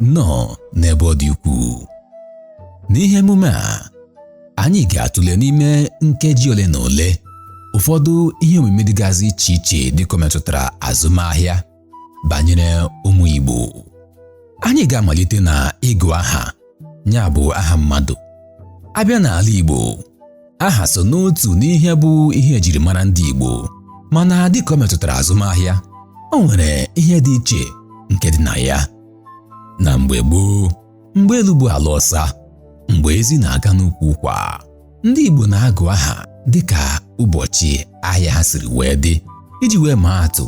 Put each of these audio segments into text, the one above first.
nnọọ n'ebe ọ dị ukwuu n'ihe emume a anyị ga-atụle n'ime nkeji ole na ole ụfọdụ ihe omume dịgasị iche iche dịka o metụtara azụmahịa banyere ụmụ Igbo anyị ga-amalite na ịgụ aha ya bụ aha mmadụ a bịa n'ala Igbo aha so n'otu n'ihe bụ ihe ejirimara ndị Igbo mana dịka o metụtara azụmahịa o nwere ihe dị iche nke dị na ya na mgbe gboo mgbe elu bụ ala ọsa mgbe ezi na-aga n'ukwu ụkwa ndị Igbo na-agụ aha dịka ụbọchị ahịa ha siri wee dị iji wee maa atụ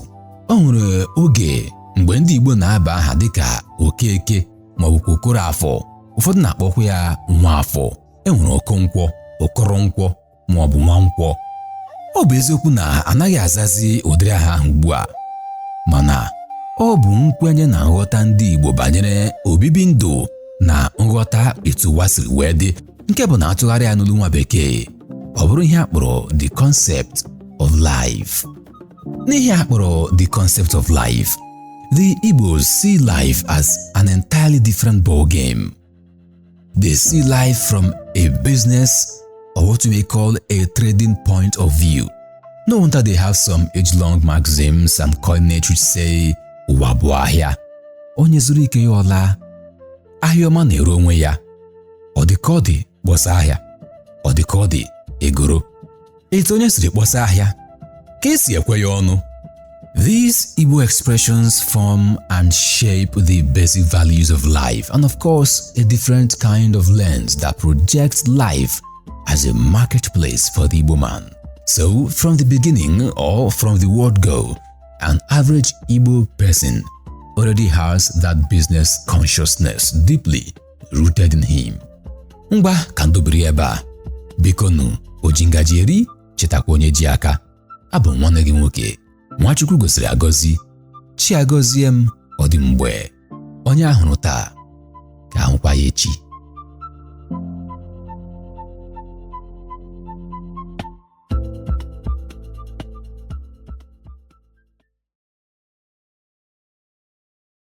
o nwere oge mgbe ndị Igbo na-aba aha dịka Okeke maọbụkwa Okoroafọ ụfọdụ na-akpọkwa ya Nwaafọ e nwere Okonkwọ Okoronkwọ ma ọ bụ Nwankwọ ọ bụ eziokwu na anaghị azazi ụdịrị aha ahụ ugbu a mana ọ bụ nkwenye na nghọta ndị Igbo banyere obibi ndụ na nghọta etu ụwa siri wee dị nke bụ na a tụgharịa ya n'olu nwa bekee ọ bụrụ ihe a kpọrọ the concept of life n'ihe a kpọrọ the concept of life the Igbos see life as an entirely different ball game They see life from a business or what you may call a trading point of view. No wonder they have some age-long maxims and coinage which say ụwa bụ ahịa onye zụrụ nke ya ọ laa ahịa ọma na-ere onwe ya ọ dị ka ọ dị kpọsa ahịa ọ dị ka ọ dị egoro etu onye siri kpọsa ahịa ka esi ekwe ya ọnụ These Igbo expressions form and shape the basic values of life and of course a different kind of lens that projects life as a marketplace for the Igbo man. So from the beginning or from the word go, an average Igbo person already has that business consciousness deeply rooted in him ngwa ka m dobiri ebe a bikonụ oji ngaji eri chetakwa onye ji aka abụ m nwanne gị nwoke nwa Chukwu gọziri agọzi Chiagọziem ọ dị mgbe onye a hụrụ taa ka a hụkwa ya echi